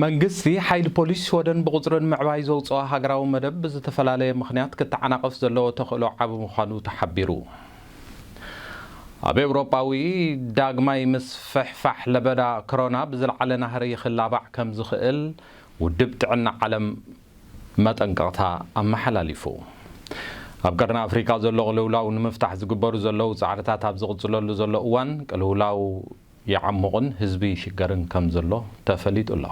መንግስቲ፣ ሓይሊ ፖሊስ ሽወደን ብቑጽሪ ንምዕባይ ዘውጽኦ ሃገራዊ መደብ ብዝተፈላለየ ምኽንያት ክተዓናቐፍ ዘለዎ ተኽእሎ ዓቢ ምዃኑ ተሓቢሩ። ኣብ ኤውሮጳዊ ዳግማይ ምስፍሕፋሕ ለበዳ ክሮና ብዝለዓለ ናህሪ ክላባዕ ከም ዝኽእል ውድብ ጥዕና ዓለም መጠንቀቕታ ኣመሓላሊፉ። ኣብ ቀርኒ ኣፍሪቃ ዘሎ ቅልውላው ንምፍታሕ ዝግበሩ ዘለዉ ጻዕርታት ኣብ ዝቕጽለሉ ዘሎ እዋን፣ ቅልውላው ይዓሙቕን ህዝቢ ይሽገርን ከም ዘሎ ተፈሊጡ ኣሎ።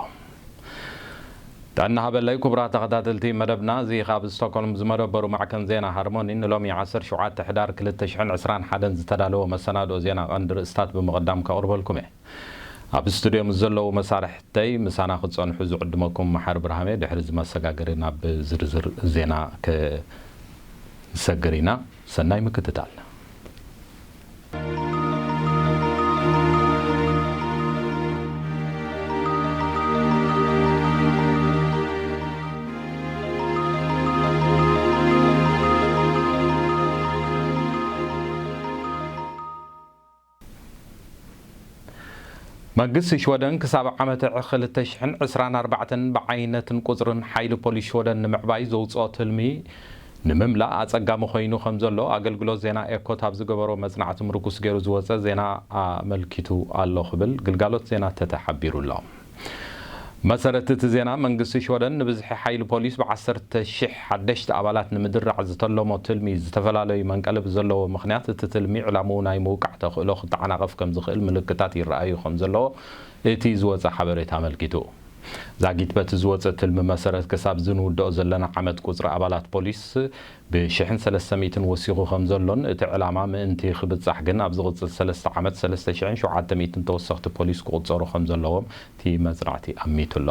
ጥዕና ሃበለይ ኩቡራት ተኸታተልቲ መደብና እዚ ካብ ስቶኮልም ዝመደበሩ ማዕከን ዜና ሃርሞኒ ንሎሚ ዓሰርተ ሸውዓተ ሕዳር ክልተ ሽሕን ዕስራን ሓደን ዝተዳለወ መሰናድኦ ዜና ቀንዲ ርእስታት ብምቕዳም ከቕርበልኩም እየ። ኣብ ስቱድዮ ምስ ዘለዉ መሳርሕተይ ምሳና ክትጸንሑ ዝዕድመኩም መሓሪ ብርሃሜ ድሕሪ እዚ መሰጋገሪ ናብ ዝርዝር ዜና ክንሰግር ኢና። ሰናይ ምክትታል። መንግስቲ ሽወደን ክሳብ ዓመተ ዕኽ ክልተ ሽሕን ዕስራን ኣርባዕተን ብዓይነትን ቁጽርን ሓይሊ ፖሊስ ሽወደን ንምዕባይ ዘውጽኦ ትልሚ ንምምላእ ኣጸጋሚ ኮይኑ ከምዘሎ ኣገልግሎት ዜና ኤኮት ኣብ ዝገበሮ መጽናዕቲ ምርኩስ ገይሩ ዝወጸ ዜና ኣመልኪቱ ኣሎ ክብል ግልጋሎት ዜና ተተ ሓቢሩ ኣሎ። ብመሰረት እቲ ዜና፣ መንግስቲ ሽወደን ንብዝሒ ሓይሊ ፖሊስ ብዓሰርተ ሽሕ ሓደሽቲ ኣባላት ንምድራዕ ዝተለሞ ትልሚ ዝተፈላለዩ መንቀሊ ብዘለዎ ምኽንያት እቲ ትልሚ ዕላምኡ ናይ ምውቃዕ ተኽእሎ ክተዓናቐፍ ከምዝኽእል ምልክታት ይረኣዩ ከምዘለዎ እቲ ዝወጸ ሓበሬታ ኣመልኪቱ። ዛጊት በቲ ዝወጸ ትልሚ መሰረት ክሳብ እዚ ንውድኦ ዘለና ዓመት ቁጽሪ ኣባላት ፖሊስ ብሽሕን ሰለስተ ሚእትን ወሲኹ ከምዘሎን እቲ ዕላማ ምእንቲ ክብጻሕ ግን ኣብ ዝቕጽል ሰለስተ ዓመት ሰለስተ ሽሕን ሸውዓተ ሚእትን ተወሰኽቲ ፖሊስ ክቑጸሩ ከምዘለዎም እቲ መጽናዕቲ ኣሚቱ ኣሎ።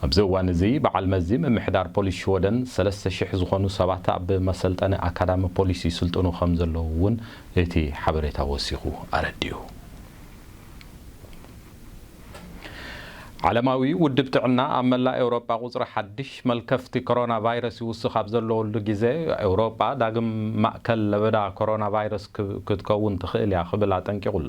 ኣብዚ እዋን እዚ በዓል መዚ ምምሕዳር ፖሊስ ሽወደን ሰለስተ ሽሕ ዝኾኑ ሰባት ኣብ መሰልጠኒ ኣካዳሚ ፖሊስ ይስልጥኑ ከምዘለዉ እውን እቲ ሓበሬታ ወሲኹ ኣረዲኡ። ዓለማዊ ውድብ ጥዕና ኣብ መላእ ኤውሮጳ ቁጽሪ ሓድሽ መልከፍቲ ኮሮናቫይረስ ይውስኽ ኣብ ዘለወሉ ግዘ ኤውሮጳ ዳግም ማእከል ለበዳ ኮሮናቫይረስ ክትከውን ትኽእል እያ ክብል ኣጠንቂቑ ኣሎ።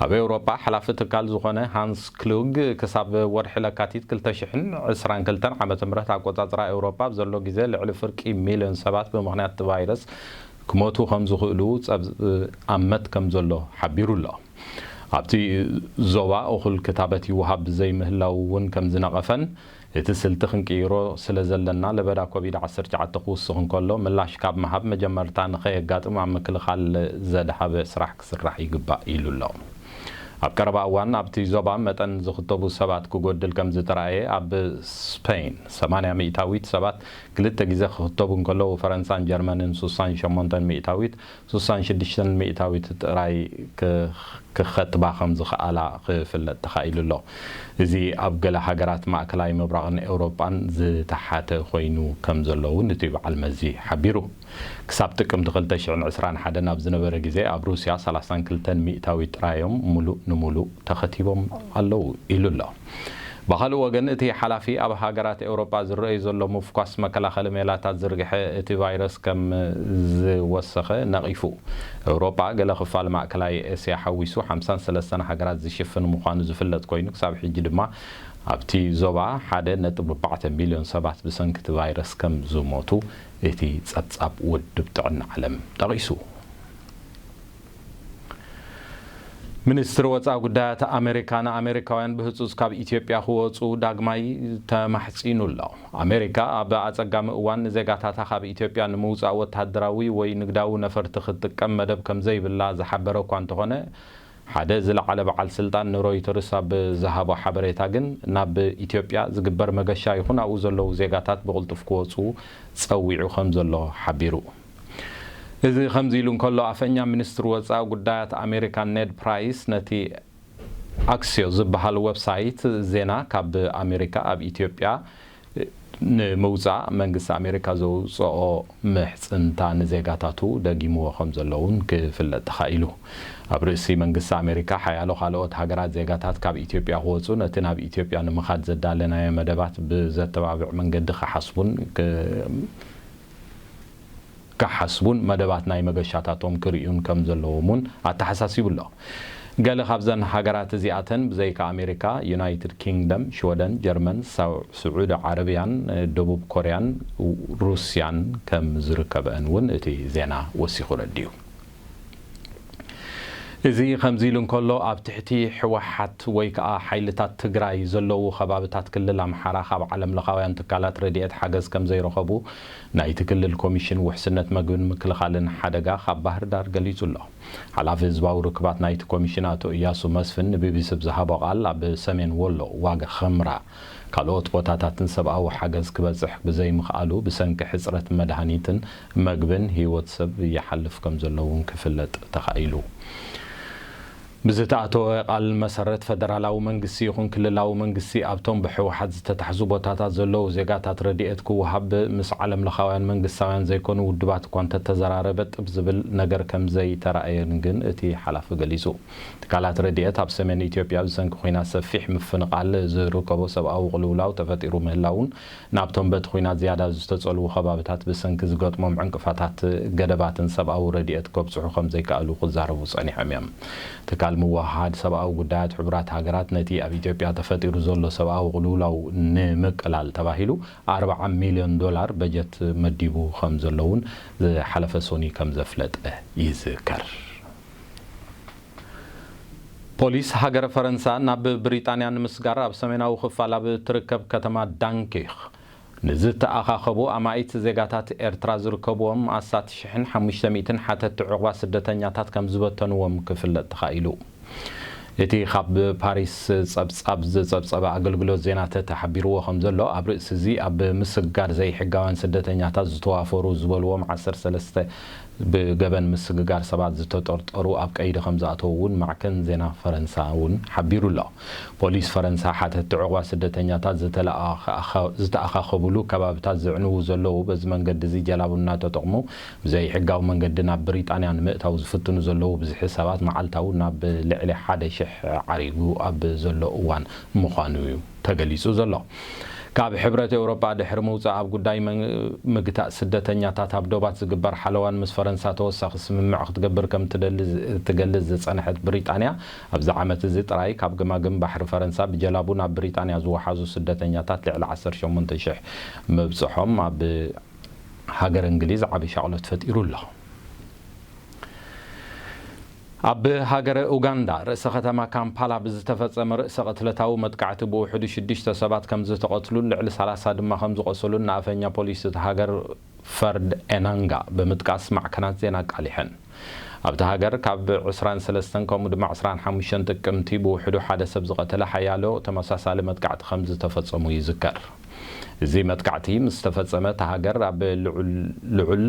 ኣብ ኤውሮጳ ሓላፊ ትካል ዝኾነ ሃንስ ክሉግ ክሳብ ወርሒ ለካቲት ክልተ ሽሕን ዕስራን ክልተን ዓመተ ምህረት ኣቆጻጽራ ኤውሮጳ ኣብ ዘሎ ግዘ ልዕሊ ፍርቂ ሚልዮን ሰባት ብምኽንያት እቲ ቫይረስ ክሞቱ ከምዝኽእሉ ጸብኣመት ከምዘሎ ሓቢሩ ኣሎ። ኣብቲ ዞባ እኹል ክታበት ይወሃብ ዘይምህላዉ'ውን ከምዝነቐፈን፣ እቲ ስልቲ ክንቅይሮ ስለዘለና ለበዳ ኮቪድ ዓሰርተ ትሽዓተ ክውስኽ እንከሎ ምላሽ ካብ ምሃብ መጀመርታ ንከየጋጥም ኣብ ምክልኻል ዘድሃበ ስራሕ ክስራሕ ይግባእ ኢሉ ኣሎ። ኣብ ቀረባ እዋን ኣብቲ ዞባ መጠን ዝኽተቡ ሰባት ክጎድል ከምዝተራእየ ኣብ ስፐይን ሰማንያ ሚእታዊት ሰባት ክልተ ግዘ ክኽተቡ እንከለዉ ፈረንሳን ጀርመንን ሱሳን ሸሞንተን ሚእታዊት ስሳን ሽዱሽተን ሚእታዊት ጥራይ ክኸትባ ከም ዝኸኣላ ክፍለጥ ተኻኢሉ ኣሎ። እዚ ኣብ ገለ ሃገራት ማእከላይ ምብራቕን ኤውሮጳን ዝተሓተ ኮይኑ ከም ዘሎ እውን እቲ በዓል መዚ ሓቢሩ። ክሳብ ጥቅምቲ ክልተ ሽሕን ዕስራን ሓደን ኣብ ዝነበረ ግዜ ኣብ ሩስያ ሰላሳን ክልተን ሚእታዊት ጥራይ እዮም ምሉእ ንምሉእ ተኸቲቦም ኣለዉ ኢሉ ኣሎ። ብኻልእ ወገን እቲ ሓላፊ ኣብ ሃገራት ኤውሮጳ ዝረኣዩ ዘሎ ምፍኳስ መከላኸሊ ሜላታት ዝርግሐ እቲ ቫይረስ ከም ዝወሰኸ ነቒፉ። ኤውሮጳ ገለ ክፋል ማእከላይ ኤስያ ሓዊሱ ሓምሳን ሰለስተን ሃገራት ዝሽፍን ምዃኑ ዝፍለጥ ኮይኑ ክሳብ ሕጂ ድማ ኣብቲ ዞባ ሓደ ነጥቢ ኣርባዕተ ሚልዮን ሰባት ብሰንኪ እቲ ቫይረስ ከም ዝሞቱ እቲ ጸብጻብ ውድብ ጥዕና ዓለም ጠቒሱ። ሚኒስትሪ ወፃኢ ጉዳያት ኣሜሪካ ንኣሜሪካውያን ብህፁፅ ካብ ኢትዮጵያ ክወፁ ዳግማይ ተማሕፂኑ ኣሎ። ኣሜሪካ ኣብ ኣፀጋሚ እዋን ንዜጋታታ ካብ ኢትዮጵያ ንምውፃእ ወታደራዊ ወይ ንግዳዊ ነፈርቲ ክትጥቀም መደብ ከምዘይብላ ዝሓበረ እኳ እንተኾነ ሓደ ዝለዓለ በዓል ስልጣን ንሮይተርስ ኣብ ዝሃቦ ሓበሬታ ግን ናብ ኢትዮጵያ ዝግበር መገሻ ይኹን ኣብኡ ዘለዉ ዜጋታት ብቕልጡፍ ክወፁ ፀዊዑ ከምዘሎ ሓቢሩ። እዚ ከምዚ ኢሉ እንከሎ፣ ኣፈኛ ሚኒስትሪ ወጻኢ ጉዳያት ኣሜሪካ ኔድ ፕራይስ ነቲ ኣክስዮስ ዝበሃል ወብሳይት ዜና ካብ ኣሜሪካ ኣብ ኢትዮጵያ ንምውጻእ መንግስቲ ኣሜሪካ ዘውጸኦ ምሕጽንታ ንዜጋታቱ ደጊምዎ ከምዘሎ እውን ክፍለጥ ተኻኢሉ። ኣብ ርእሲ መንግስቲ ኣሜሪካ ሓያሎ ካልኦት ሃገራት ዜጋታት ካብ ኢትዮጵያ ክወጹ ነቲ ናብ ኢትዮጵያ ንምኻድ ዘዳለናዮ መደባት ብዘተባብዕ መንገዲ ክሓስቡን ክሓስቡን መደባት ናይ መገሻታቶም ክርእዩን ከም ዘለዎም'ውን ኣተሓሳሲቡ'ሎ። ገለ ካብዘን ሃገራት እዚኣተን ብዘይካ ኣሜሪካ፣ ዩናይትድ ኪንግደም፣ ሽወደን፣ ጀርመን፣ ስዑዲ ዓረብያን ደቡብ ኮርያን ሩስያን ከም ዝርከበኣን'ውን እቲ ዜና ወሲኹ ኣረዲኡ። እዚ ከምዚ ኢሉ እንከሎ ኣብ ትሕቲ ህወሓት ወይ ከኣ ሓይልታት ትግራይ ዘለዉ ከባብታት ክልል ኣምሓራ ካብ ዓለም ለኻውያን ትካላት ረድኤት ሓገዝ ከምዘይረኸቡ ናይቲ ክልል ኮሚሽን ውሕስነት መግብን ምክልኻልን ሓደጋ ካብ ባህርዳር ገሊፁ ኣሎ። ሓላፊ ህዝባዊ ርክባት ናይቲ ኮሚሽን ኣቶ እያሱ መስፍን ንቢቢሲ ብዝሃቦ ቃል ኣብ ሰሜን ወሎ ዋግ ኽምራ ካልኦት ቦታታትን ሰብኣዊ ሓገዝ ክበጽሕ ብዘይምኽኣሉ ብሰንኪ ሕጽረት መድሃኒትን መግብን ህይወት ሰብ ይሓልፍ ከምዘሎ'ውን ክፍለጥ ተኻኢሉ። ብዝተኣተወ ቃል መሰረት ፈደራላዊ መንግስቲ ይኹን ክልላዊ መንግስቲ ኣብቶም ብህወሓት ዝተታሕዙ ቦታታት ዘለዉ ዜጋታት ረድኤት ክወሃብ ምስ ዓለምለኻውያን መንግስታውያን ዘይኮኑ ውድባት እኳ እንተተዘራረበ ጥብ ዝብል ነገር ከምዘይተራእየን ግን እቲ ሓላፊ ገሊጹ። ትካላት ረድኤት ኣብ ሰሜን ኢትዮጵያ ብሰንኪ ኹናት ሰፊሕ ምፍንቓል ዝርከቦ ሰብኣዊ ቕልውላው ተፈጢሩ ምህላዉን ናብቶም በቲ ኹናት ዝያዳ ዝተፀልዉ ኸባብታት ብሰንኪ ዝገጥሞም ዕንቅፋታት ገደባትን ሰብኣዊ ረድኤት ከብፅሑ ከምዘይከኣሉ ክዛረቡ ፀኒሖም እዮም። ትካል ምውህሃድ ሰብኣዊ ጉዳያት ሕቡራት ሃገራት ነቲ ኣብ ኢትዮጵያ ተፈጢሩ ዘሎ ሰብኣዊ ቕልውላው ንምቅላል ተባሂሉ ኣርብዓ ሚልዮን ዶላር በጀት መዲቡ ከምዘሎ'ውን ዝሓለፈ ሶኑይ ከምዘፍለጠ ይዝከር። ፖሊስ ሃገረ ፈረንሳ ናብ ብሪጣንያ ንምስጋር ኣብ ሰሜናዊ ክፋል ኣብ እትርከብ ከተማ ዳንኪርክ ንዝተኣኻኸቡ ኣማኢት ዜጋታት ኤርትራ ዝርከብዎም ኣስታት ሽሕን ሓሙሽተ ሚእትን ሓተቲ ዑቕባ ስደተኛታት ከም ዝበተንዎም ክፍለጥ ተኻኢሉ። እቲ ካብ ፓሪስ ጸብጻብ ዝጸብጸበ ኣገልግሎት ዜና ተተ ሓቢርዎ ከም ዘሎ፣ ኣብ ርእሲ'ዚ ኣብ ምስጋር ዘይሕጋውያን ስደተኛታት ዝተዋፈሩ ዝበልዎም ዓሰርተ ሰለስተ ብገበን ምስግጋር ሰባት ዝተጠርጠሩ ኣብ ቀይዲ ከምዝኣተዉ እውን ማዕከን ዜና ፈረንሳ እውን ሓቢሩ ኣሎ። ፖሊስ ፈረንሳ ሓተቲ ዑቕባ ስደተኛታት ዝተኣኻኸብሉ ከባቢታት ዘዕንዉ ዘለዉ በዚ መንገዲ እዚ ጀላቡ እናተጠቕሙ ብዘይሕጋዊ መንገዲ ናብ ብሪጣንያ ንምእታው ዝፍትኑ ዘለዉ ብዝሒ ሰባት መዓልታዊ ናብ ልዕሊ ሓደ ሽሕ ዓሪጉ ኣብ ዘሎ እዋን ምዃኑ እዩ ተገሊጹ ዘሎ። ካብ ሕብረት ኤውሮጳ ድሕሪ ምውጻእ ኣብ ጉዳይ ምግታእ ስደተኛታት ኣብ ዶባት ዝግበር ሓለዋን ምስ ፈረንሳ ተወሳኺ ስምምዕ ክትገብር ከም እትደሊ እትገልጽ ዝጸንሐት ብሪጣንያ ኣብዚ ዓመት እዚ ጥራይ ካብ ገማግም ባሕሪ ፈረንሳ ብጀላቡ ናብ ብሪጣንያ ዝወሓዙ ስደተኛታት ልዕሊ ዓሰርተ ሸሞንተ ሽሕ ምብጽሖም ኣብ ሃገረ እንግሊዝ ዓቢ ሻቕሎት ፈጢሩ ኣሎ። ኣብ ሃገረ ኡጋንዳ ርእሰ ከተማ ካምፓላ ብዝተፈጸመ ርእሰ ቅትለታዊ መጥቃዕቲ ብውሕዱ ሽዱሽተ ሰባት ከምዝተቐትሉን ልዕሊ ሰላሳ ድማ ከምዝቖሰሉን ንኣፈኛ ፖሊስ እታ ሃገር ፈርድ ኤናንጋ ብምጥቃስ ማዕከናት ዜና ኣቃሊሐን። ኣብታ ሃገር ካብ ዕስራን ሰለስተን ከምኡ ድማ ዕስራን ሓሙሽተን ጥቅምቲ ብውሕዱ ሓደ ሰብ ዝቐተለ ሓያሎ ተመሳሳሊ መጥቃዕቲ ከምዝተፈጸሙ ይዝከር። እዚ መጥቃዕቲ ምስ ተፈጸመ እታ ሃገር ኣብ ልዑል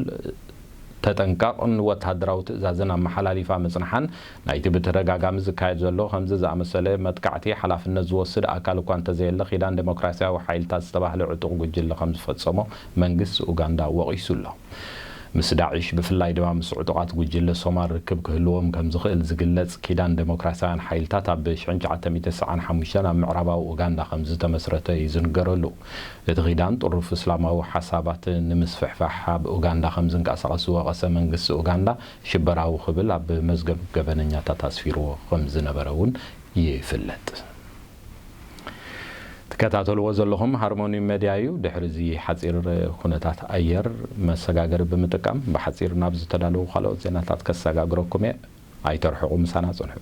ተጠንቀቕ ን ወተሃደራዊ ትእዛዝን ኣመሓላሊፋ ምጽንሓን፣ ናይቲ ብተደጋጋሚ ዝካየድ ዘሎ ከምዚ ዝኣመሰለ መጥቃዕቲ ሓላፍነት ዝወስድ ኣካል እኳ እንተዘየለ ኪዳን ደሞክራስያዊ ሓይልታት ዝተባህለ ዕጡቕ ጉጅለ ከም ዝፈጸሞ መንግስቲ ኡጋንዳ ወቒሱ ኣሎ። ምስ ዳዒሽ ብፍላይ ድማ ምስ ዕጡቓት ጉጅለ ሶማል ርክብ ክህልዎም ከም ዝኽእል ዝግለጽ ኪዳን ደሞክራስያውያን ሓይልታት ኣብ ሽሕን ትሽዓተ ሚእቲ ሰሰዓን ሓሙሽተን ኣብ ምዕራባዊ ኡጋንዳ ከም ዝተመስረተ እዩ ዝንገረሉ። እቲ ኪዳን ጥሩፍ እስላማዊ ሓሳባት ንምስፍሕፋሕ ኣብ ኡጋንዳ ከም ዝንቀሳቐስ ዝወቐሰ መንግስቲ ኡጋንዳ ሽበራዊ ክብል ኣብ መዝገብ ገበነኛታት ኣስፊርዎ ከም ዝነበረ እውን ይፍለጥ። ትከታተልዎ ዘለኹም ሃርሞኒ መድያ እዩ። ድሕሪ እዚ ሓጺር ኩነታት ኣየር መሰጋገሪ ብምጥቃም ብሓጺር ናብ ዝተዳለዉ ካልኦት ዜናታት ከሰጋግረኩም እየ። ኣይተርሕቑ ምሳና ጽንሑ።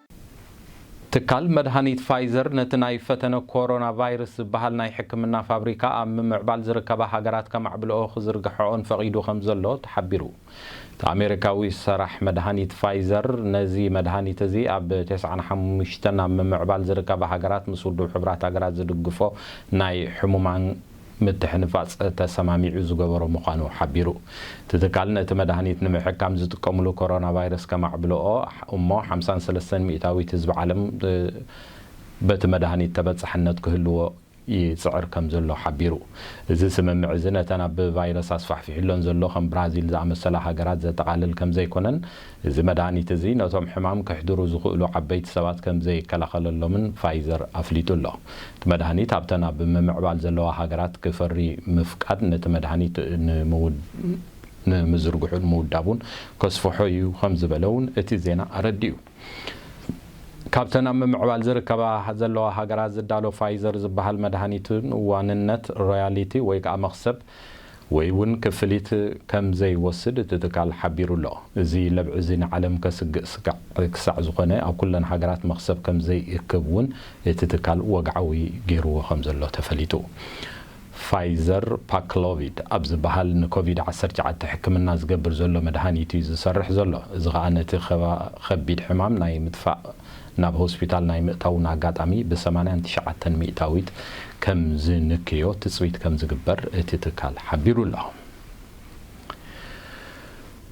ትካል መድሃኒት ፋይዘር ነቲ ናይ ፈተነ ኮሮናቫይርስ ዝበሃል ናይ ሕክምና ፋብሪካ ኣብ ምምዕባል ዝርከባ ሃገራት ከማዕብልኦ ክዝርግሐኦን ፈቒዱ ከምዘሎ ተሓቢሩ። እቲ ኣሜሪካዊ ሰራሕ መድሃኒት ፋይዘር ነዚ መድሃኒት እዚ ኣብ ተስዓን ሓሙሽተን ኣብ ምምዕባል ዝርከባ ሃገራት ምስ ውድብ ሕቡራት ሃገራት ዝድግፎ ናይ ሕሙማን ምትሕንፋጽ ተሰማሚዑ ዝገበሮ ምዃኑ ሓቢሩ። እቲ ትካል ነቲ መድሃኒት ንምሕካም ዝጥቀምሉ ኮሮናቫይረስ ከማዕብልኦ እሞ ሓምሳን ሰለስተን ሚእታዊት ህዝቢ ዓለም በቲ መድሃኒት ተበጻሕነት ክህልዎ ይጽዕር ከም ዘሎ ሓቢሩ። እዚ ስምምዕ እዚ ነተን ኣብ ቫይረስ ኣስፋሕፊሑለን ዘሎ ከም ብራዚል ዝኣመሰላ ሃገራት ዘጠቓልል ከም ዘይኮነን እዚ መድሃኒት እዚ ነቶም ሕማም ከሕድሩ ዝኽእሉ ዓበይቲ ሰባት ከም ዘይከላኸለሎምን ፋይዘር ኣፍሊጡ ኣሎ። እቲ መድሃኒት ኣብተን ኣብ ምምዕባል ዘለዋ ሃገራት ክፈሪ ምፍቃድ ነቲ መድሃኒት ንምዝርግሑን ምውዳቡን ከስፍሖ እዩ ከም ዝበለ እውን እቲ ዜና ኣረዲኡ። ካብተን ኣብ ምምዕባል ዝርከባ ዘለዋ ሃገራት ዝዳሎ ፋይዘር ዝበሃል መድሃኒት እውን ዋንነት፣ ሮያሊቲ፣ ወይ ከኣ መኽሰብ፣ ወይ እውን ክፍሊት ከም ዘይወስድ እቲ ትካል ሓቢሩ ኣሎ። እዚ ለብዒ እዚ ንዓለም ከስግእ ስጋዕ ክሳዕ ዝኾነ ኣብ ኩለን ሃገራት መኽሰብ ከም ዘይእክብ እውን እቲ ትካል ወግዓዊ ገይርዎ ከም ዘሎ ተፈሊጡ። ፋይዘር ፓክሎቪድ ኣብ ዝበሃል ንኮቪድ ዓሰርተ ትሽዓተ ሕክምና ዝገብር ዘሎ መድሃኒት እዩ ዝሰርሕ ዘሎ። እዚ ከኣ ነቲ ከቢድ ሕማም ናይ ምጥፋእ ናብ ሆስፒታል ናይ ምእታውን ኣጋጣሚ ብ ሰማንያን ትሽዓተን ሚእታዊት ከም ዝንክዮ ትጽቢት ከም ዝግበር እቲ ትካል ሓቢሩ ኣሎ።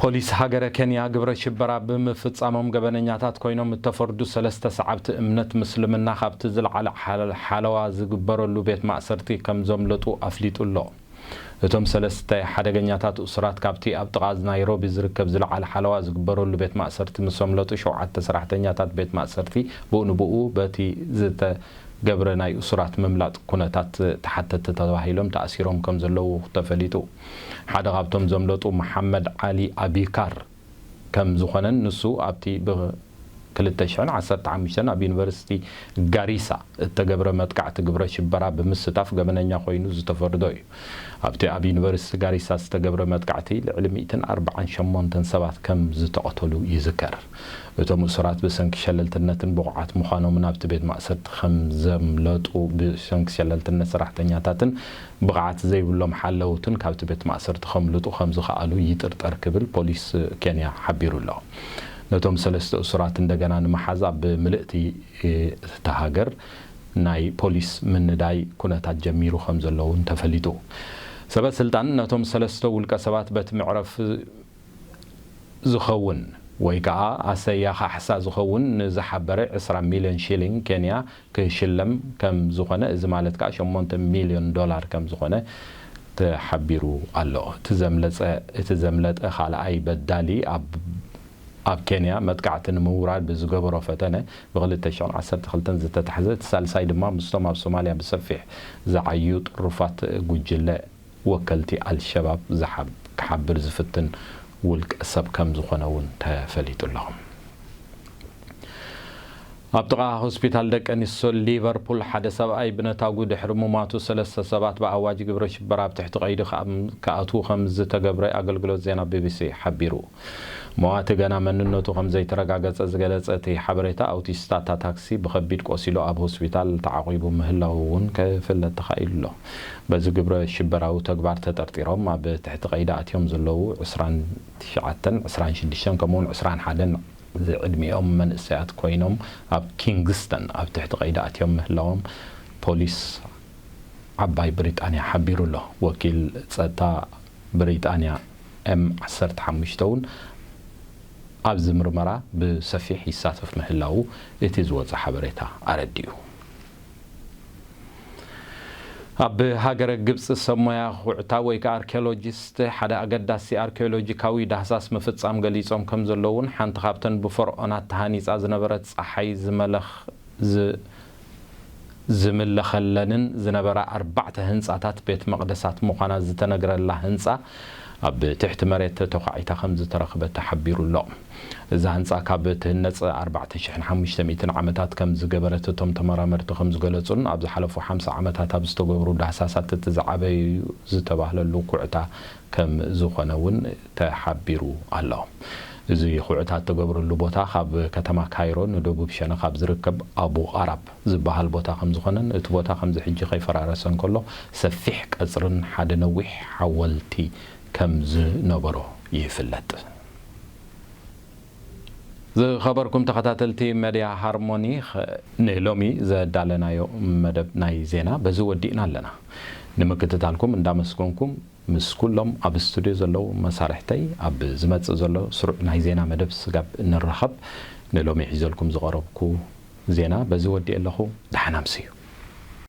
ፖሊስ ሃገረ ኬንያ ግብረ ሽበራ ብምፍጻሞም ገበነኛታት ኮይኖም እተፈርዱ ሰለስተ ሰዓብቲ እምነት ምስልምና ካብቲ ዝለዓለ ሓለዋ ዝግበረሉ ቤት ማእሰርቲ ከም ዘምለጡ ኣፍሊጡ ኣሎ። እቶም ሰለስተ ሓደገኛታት እሱራት ካብቲ ኣብ ጥቓ ናይሮቢ ዝርከብ ዝለዓለ ሓለዋ ዝግበረሉ ቤት ማእሰርቲ ምስ ኣምለጡ ሸውዓተ ሰራሕተኛታት ቤት ማእሰርቲ ብኡ ንብኡ በቲ ዝተገብረ ናይ እሱራት ምምላጥ ኩነታት ተሓተትቲ ተባሂሎም ተኣሲሮም ከምዘለዉ ተፈሊጡ። ሓደ ካብቶም ዘምለጡ መሓመድ ዓሊ ኣቢካር። ከም ዝኾነን ንሱ ኣብቲ ብ ክልተ ሽሕን ዓሰርተ ሓሙሽተን ኣብ ዩኒቨርሲቲ ጋሪሳ እተገብረ መጥቃዕቲ ግብረ ሽበራ ብምስታፍ ገበነኛ ኮይኑ ዝተፈርዶ እዩ። ኣብቲ ኣብ ዩኒቨርሲቲ ጋሪሳ ዝተገብረ መጥቃዕቲ ልዕሊ ሚእትን ኣርብዓን ሸሞንተን ሰባት ከም ዝተቐተሉ ይዝከር። እቶም እሱራት ብሰንኪ ሸለልትነትን ብቑዓት ምዃኖምን ኣብቲ ቤት ማእሰርቲ ከም ዘምለጡ ብሰንኪ ሸለልትነት ሰራሕተኛታትን ብቕዓት ዘይብሎም ሓለውትን ካብቲ ቤት ማእሰርቲ ከምልጡ ከምዝኸኣሉ ይጥርጠር ክብል ፖሊስ ኬንያ ሓቢሩ'ሎ። ነቶም ሰለስተ እሱራት እንደገና ንምሓዝ ኣብ ምልእቲ እታ ሃገር ናይ ፖሊስ ምንዳይ ኩነታት ጀሚሩ ከምዘሎ'ውን ተፈሊጡ። ሰበ ስልጣን ነቶም ሰለስተ ውልቀ ሰባት በቲ መዕረፊ ዝኸውን ወይ ከኣ ኣሰያ ካሕሳ ዝኸውን ንዝሓበረ ዕስራ ሚልዮን ሺሊንግ ኬንያ ክንሽለም ከም ዝኾነ እዚ ማለት ከኣ ሸሞንተ ሚልዮን ዶላር ከም ዝኾነ ተሓቢሩ ኣሎ። እቲ ዘምለጸ እቲ ዘምለጠ ካልኣይ በዳሊ ኣብ ኣብ ኬንያ መጥቃዕቲ ንምውራድ ብዝገበሮ ፈተነ ብክልተ ሽሕን ዓሰርተ ክልተን ዝተታሕዘ እቲ ሳልሳይ ድማ ምስቶም ኣብ ሶማልያ ብሰፊሕ ዝዓዩ ጥሩፋት ጉጅለ ወከልቲ ኣልሸባብ ዝሓብ ክሓብር ዝፍትን ውልቀ ሰብ ከም ዝኾነ'ውን ተፈሊጡ ኣሎ። ኣብ ጥቓ ሆስፒታል ደቀንስትዮ ሊቨርፑል ሓደ ሰብኣይ ብነታጕ ድሕሪ ምሟቱ ሰለስተ ሰባት ብኣዋጅ ግብረ ሽበራ ኣብ ትሕቲ ቀይዲ ክኣትዉ ከምዝተገብረ ኣገልግሎት ዜና ቢቢሲ ሓቢሩ። መዋቲ ገና መንነቱ ከምዘይተረጋገጸ ዝገለጸ እቲ ሓበሬታ፣ ኣውቲስታ እታ ታክሲ ብኸቢድ ቆሲሉ ኣብ ሆስፒታል ተዓቚቡ ምህላዉ'ውን ክፍለጥ ተኻኢሉ'ሎ። በዚ ግብረ ሽበራዊ ተግባር ተጠርጢሮም ኣብ ትሕቲ ቀይዲ ኣትዮም ዘለዉ ዕስራን ትሽዓተን፣ ዕስራን ሽዱሽተን ከምኡ'ውን ዕስራን ሓደን ዝዕድሚኦም መንእሰያት ኮይኖም ኣብ ኪንግስተን ኣብ ትሕቲ ቀይዲ ኣትዮም ምህላዎም ፖሊስ ዓባይ ብሪጣንያ ሓቢሩ ኣሎ። ወኪል ጸጥታ ብሪጣንያ ኤም ዓሰርተ ሓሙሽተ እውን ኣብዚ ምርመራ ብሰፊሕ ይሳተፍ ምህላዉ እቲ ዝወጸ ሓበሬታ ኣረዲኡ። ኣብ ሃገረ ግብጺ ሰብ ሞያ ዅዕታ ወይ ከኣ ኣርኪዮሎጂስት ሓደ ኣገዳሲ ኣርኪዮሎጂካዊ ዳህሳስ ምፍጻም ገሊጾም ከም ዘለዉን ሓንቲ ካብተን ብፈርኦናት ተሃኒጻ ዝነበረት ጸሓይ ዝምለኸለንን ዝነበራ ኣርባዕተ ህንጻታት ቤት መቕደሳት ምዃና ዝተነግረላ ህንጻ ኣብ ትሕቲ መሬት ተዃዒታ ከም ዝተረኽበ ተሓቢሩ'ሎ። እዛ ህንጻ ካብ ትህነጽ ኣርባዕተ ሽሕን ሓሙሽተ ሚእትን ዓመታት ከም ዝገበረት እቶም ተመራመርቲ ከም ዝገለጹን ኣብ ዝሓለፉ ሓምሳ ዓመታት ኣብ ዝተገብሩ ዳህሳሳት እቲ ዝዓበየ'ዩ ዝተባህለሉ ኩዕታ ከም ዝኾነ እውን ተሓቢሩ ኣሎ። እዚ ኩዕታ እተገብረሉ ቦታ ካብ ከተማ ካይሮ ንደቡብ ሸነኽ ኣብ ዝርከብ ኣቡ ቓራብ ዝበሃል ቦታ ከም ዝኾነን እቲ ቦታ ከምዚ ሕጂ ከይፈራረሰ እንከሎ ሰፊሕ ቀጽርን ሓደ ነዊሕ ሓወልቲ ከም ዝነበሮ ይፍለጥ። ዝኸበርኩም ተኸታተልቲ መድያ ሃርሞኒ ንሎሚ ዘዳለናዮ መደብ ናይ ዜና በዚ ወዲእና ኣለና። ንምክትታልኩም እንዳመስገንኩም ምስ ኩሎም ኣብ ስቱድዮ ዘለዉ መሳርሕተይ ኣብ ዝመጽእ ዘሎ ስሩዕ ናይ ዜና መደብ ስጋብ እንራኸብ ንሎሚ ሒዘልኩም ዝቐረብኩ ዜና በዚ ወዲኤ ኣለኹ። ደሓን ኣምስዩ።